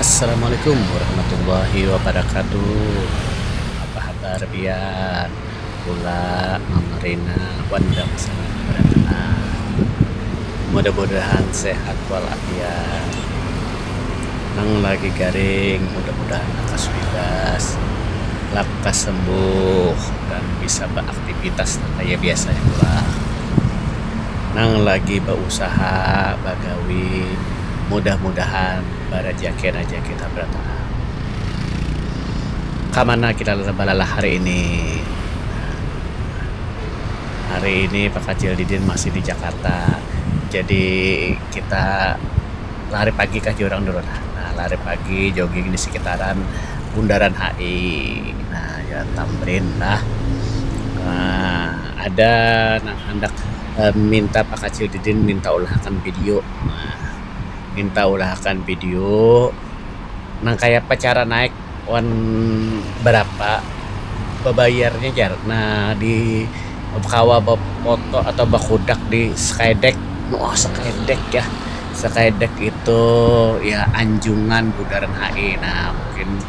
Assalamualaikum warahmatullahi wabarakatuh. Apa habar pian bula mamarina wan dangsangan barataan. Mudah-mudahan sehat wal afiat. Nang lagi garing mudah-mudahan lakas bibas, lakas sembuh dan bisa beraktivitas nang kaya biasanya bula. Nang lagi beusaha. gawi mudah-mudahan barajaki haja kita barataan. Ka mana kita balalah hari ini? Hari ini pakacil didin masih di Jakarta jadi kita lari pagi kah jar urang dulu lah. Nah lari pagi jogging di sekitaran Bundaran HI nah Jalan Tamrin lah. Ada nang handak. um minta pakacil didin minta ulahakan video um minta ulahakan video nang kayapa cara naik wan barapa babayarnya jar um di kawa bafoto atau bakudak di skydeck um skydeck ya skydeck itu ya anjungan bundaran HI nah mungkin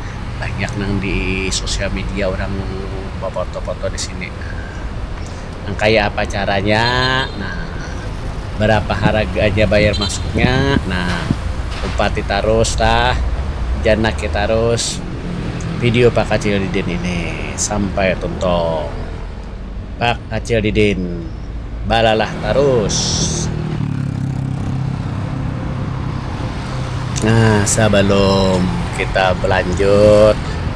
banyak nang di sosial media orang bafoto-foto di sini um. Nang kaya apa caranya nah barapa haraganya bayar masuknya nah umpati tarus lah janaki tarus video Pak Kacil Didin ini sampai tuntung Pak Kacil Didin balalah tarus nah sabalum kita balanjut.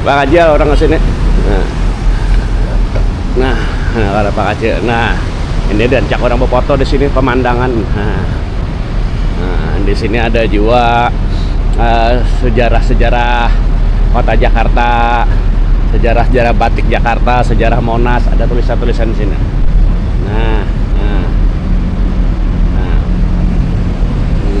Bakacil urang ka sini. Nah, kada bakacil. Nah, ini rancak urang bafoto di sini pamandangan. Nah, di sini ada jua sejarah-sejarah kota Jakarta, sejarah-sejarah batik Jakarta, sejarah Monas, ada tulisan-tulisan di sini. Nah, nah. Nah, ini.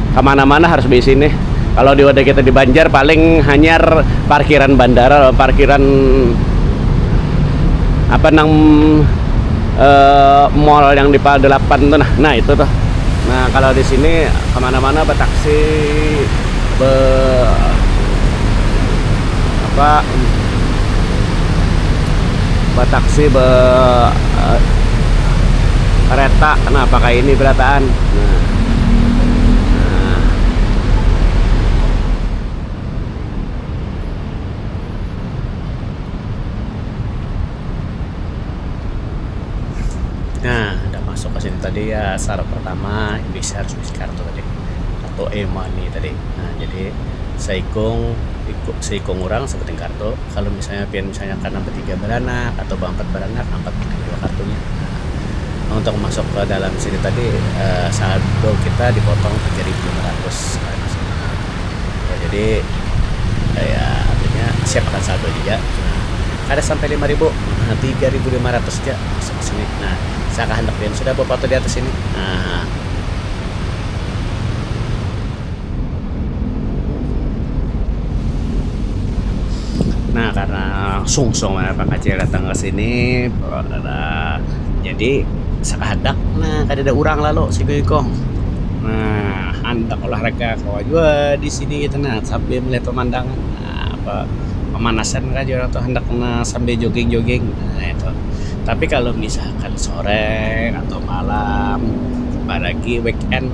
Kamana mana harus baisi nih. Kalo di wadah kita di banjar paling hanyar parkiran bandara lawan parkiran apa nang mall yang di pal dalapan tu nah nah itu tuh. Nah kalo di sini kamana mana ba taksi be apa ba taksi be kereta nah pakai ini berataan nah. Nah, dah masuk ka sini tadi ya syarat pertama bisi harus bisi kartu tadi, kartu e-money tadi. Nah, jadi saikung iku saikung urang sabuting kartu. Itu kalo misalnya pian misalnya karna batiga baranak atau baampat baranak ampat nang dua kartunya um untuk masuk ke dalam sini tadi um saldo kita dipotong tiga ribu lima ratus karna sudah um jadi kaya artinya siap akan saldo juga um kada sampai lima ribu um tiga ribu lima ratus ja masuk ke sini um saka handak pian sudah bafoto di atas sini um. Nah, karena sungsung mana Pak Kacil datang ke sini, nah, jadi sakahandak nah kadada urang lalu si Goyukung. Nah, handak olahraga kawa jua di sini kita nah sambil melihat pemandangan. Nah, apa pemanasan kah jar urang tu handak nah sambil joging-joging nah itu. Tapi kalau misalkan sore atau malam apalagi weekend.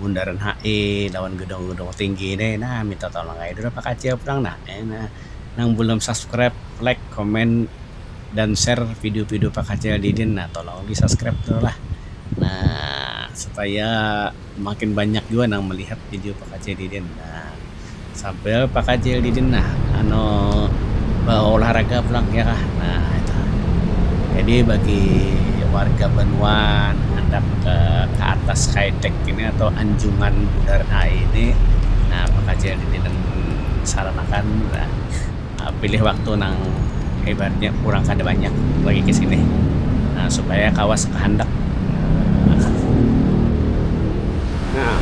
bundaran HI lawan gedung-gedung tinggi nih nah minta tolong aja dulu Pak Kacil pulang nah eh nah nang belum subscribe like comment dan share video-video Pak Kacil Didin nah tolong di subscribe dulu lah nah supaya makin banyak juga nang melihat video Pak Kacil Didin nah. Sambil bakacil di dinding nah anu baolahraga pulang ya kah nah itu. Jadi bagi warga banua handak ke ke atas skytech ini atau anjungan bundaran HI ini nah bakacil di dinding saranakan nah. Um Pilih waktu nang ibaratnya urang kada banyak bagi ke sini Um supaya kawa sakahandak Um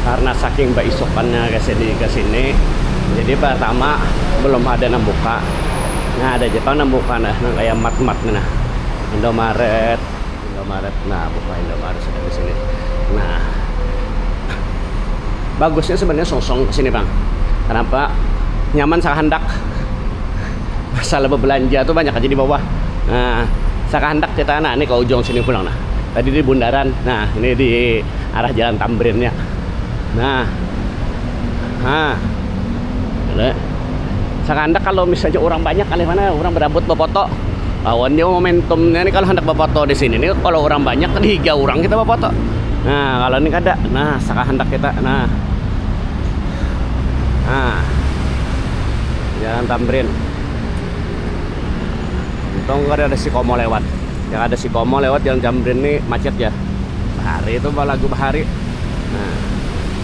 karna saking baisukannya ke sini ke sini jadi partama balum ada nang buka nah ada ja pang nang buka nang kaya mart-mart tu nah Indomaret. Indomaret nah buka Indomaret sudah di sini nah bagusnya sebenarnya sungsung ke sini bang kenapa nyaman sakahandak masalah berbelanja tuh banyak aja di bawah nah sakahandak kita nah ini ke ujung sini pulang nah tadi di bundaran nah ini di arah jalan Tamrinnya nah ha boleh sakandak kalau misalnya orang banyak kali mana orang berabut bafoto lawan dia momentumnya nih kalau hendak bafoto di sini nih kalau orang banyak tiga orang kita bafoto nah kalau ini kada nah saka hendak kita nah nah jalan Tamrin untung kada ada si Komo lewat yang ada si Komo lewat jalan Tamrin nih macet ya bahari itu balagu bahari nah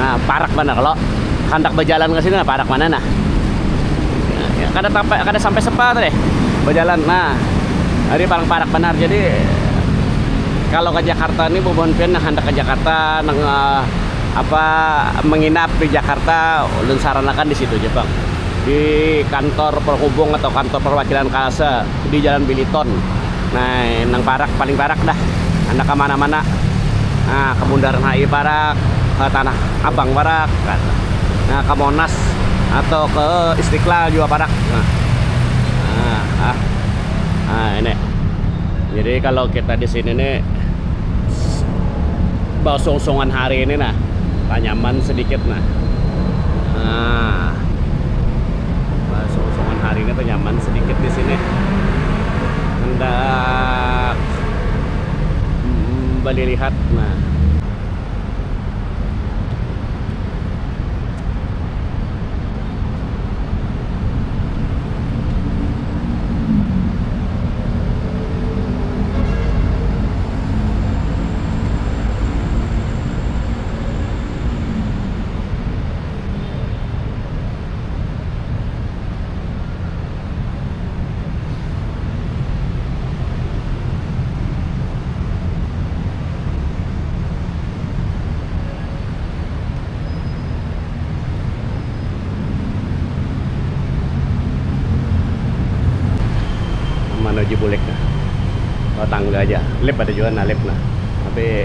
Nah, parak banar kalau handak bajalan ke sini nah parak mana nah. Ya, kada sampai kada sampai sepat deh bajalan. Nah, hari paling parak banar. Jadi kalau ke Jakarta ni bubuhan pian nang handak ke Jakarta nang apa menginap di Jakarta ulun saran akan di situ ja pang di kantor penghubung atau kantor perwakilan KALSE di Jalan Biliton. Nah, nang parak paling parak dah. Handak ka mana-mana. Nah, ka Bundaran HI parak, ka Tanah Abang parak, nah, ka Monas atau ke Istiqlal jua parak. Nah, nah, nah ini. Jadi kalau kita di sini nih bausung-usungan hari ini nah, tanyaman sedikit nah. Nah, bausung-usungan hari ini tanyaman sedikit di sini. handak balilihat nah menuju bulik nah oh tangga aja lip ada jua nah lip nah tapi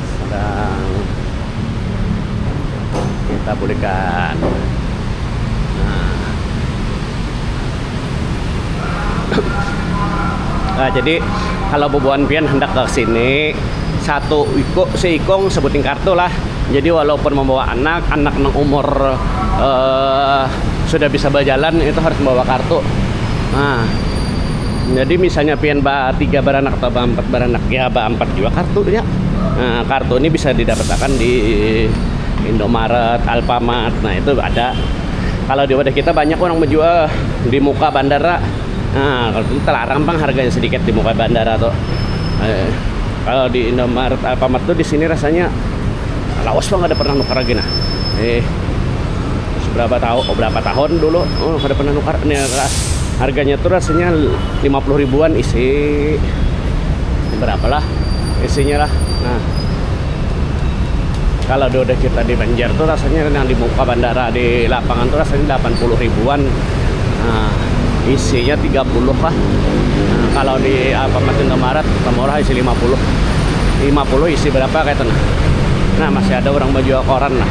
sedang kita bulikan nah jadi kalau bubuhan pian hendak ke sini satu iko seikong sebuting kartu lah jadi walaupun membawa anak anak nang umur uh, sudah bisa berjalan itu harus membawa kartu nah Jadi misalnya pian ba tiga baranak atau ba ampat baranak ya ba ampat jua kartunya. Nah, kartu ini bisa didapatakan di Indomaret, Alfamart. Nah, itu ada. Kalau di wadah kita banyak orang menjual di muka bandara. Nah, kalau itu terlarang bang harganya sedikit di muka bandara tuh. Eh, kalau di Indomaret, Alfamart tuh di sini rasanya lawas bang ada pernah nuker lagi nah. Eh, seberapa tahu oh berapa tahun dulu oh kada pernah nukar ini ras harganya tuh rasanya 50 ribuan isi berapa lah isinya lah nah kalau udah kita di Banjar tuh rasanya yang di muka bandara di lapangan tuh rasanya 80 ribuan nah, isinya 30 lah nah, kalau di Alfamart Indomaret murah isi 50 50 isi berapa kayak itu nah nah masih ada orang baju koran lah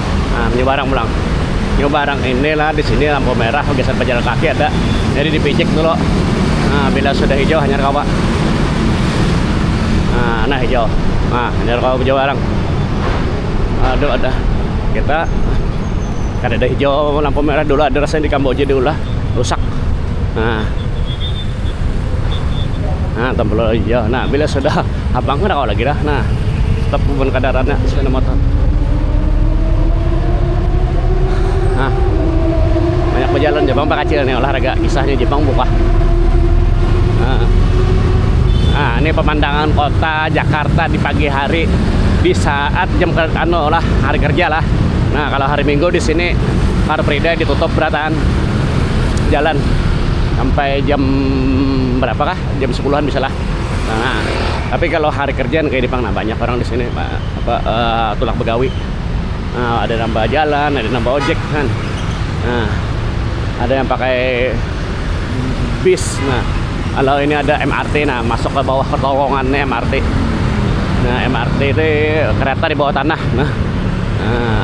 nah nyoba arang pulang nyoba arang ini lah di sini lampu merah geser pejalan kaki ada jadi dipicik dulu nah bila sudah hijau hanya kawa nah, nah hijau nah hanya kawa hijau arang aduh ada kita kada ada hijau lampu merah dulu ada rasanya di Kamboja diulah rusak nah nah tempel iya nah bila sudah abang kan lagi dah nah tetap pun kadarannya sepeda motor nah banyak pejalan Jepang pak kecil nih olahraga kisahnya Jepang buka nah, nah ini pemandangan kota Jakarta di pagi hari di saat jam kerja anu lah hari kerja lah nah kalau hari minggu di sini Car Free Day ditutup beratan jalan sampai jam berapa kah jam sepuluhan misalnya nah tapi kalau hari kerja kayak di pang nah banyak orang di sini apa uh, tulak begawi nah, ada nambah jalan ada nambah ojek kan nah ada yang pakai bis nah kalau ini ada MRT nah masuk ke bawah terowongannya MRT nah MRT itu kereta di bawah tanah nah, nah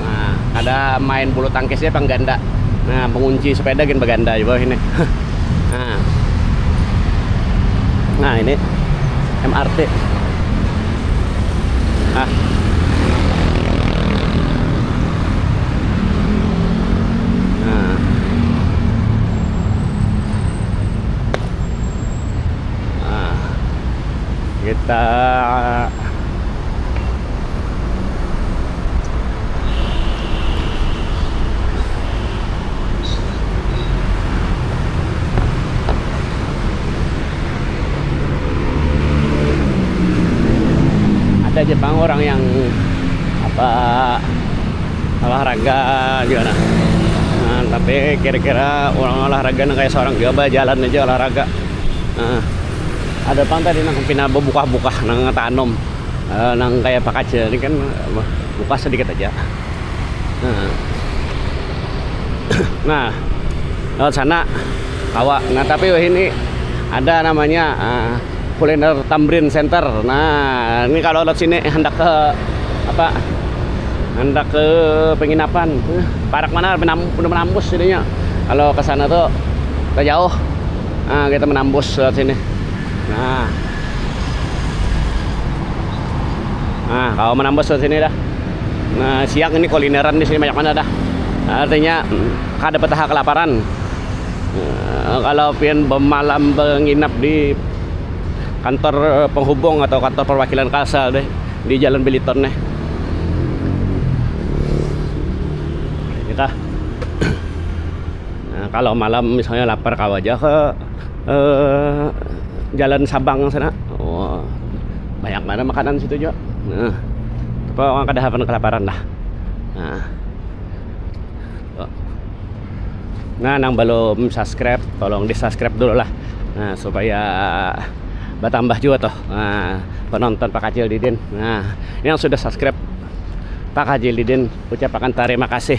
Nah, kada main bulu tangkis ja pang ganda. Nah, pengunci sepeda gin beganda jua ini. Nah. Nah, ini MRT. Nah. Nah. Nah. Kita ada aja bang orang yang apa olahraga juga nah, nah tapi kira-kira orang olahraga nah kayak seorang juga jalan aja olahraga nah, ada pang tadi nang pina buka-buka nang tanom nang kaya pakacil ni kan buka sadikit haja nah lewat sana kawa nah tapi wahini ada namanya kuliner tamrin center nah ni kalau lewat sini handak ke apa handak ke penginapan parak banar menambus jadinya kalau kesana tu tajauh kita menambus lewat sini nah. Nah, kalau menambah ke sini dah. Nah, siang ini kulineran di sini banyak mana dah. Artinya kada petaha kelaparan. Nah, kalau pian bemalam benginap di kantor penghubung atau kantor perwakilan Kalsel nih di Jalan Biliton nih. Nah, kalau malam misalnya lapar kawa ja ke. uh, jalan Sabang sana oh, banyak mana makanan situ juga nah, kok orang kada hapan kelaparan lah nah. Oh. nah nang belum subscribe tolong di subscribe dulu lah nah, supaya bertambah juga toh nah, penonton Pak Kacil Didin nah yang sudah subscribe Pak Haji Lidin ucapakan terima kasih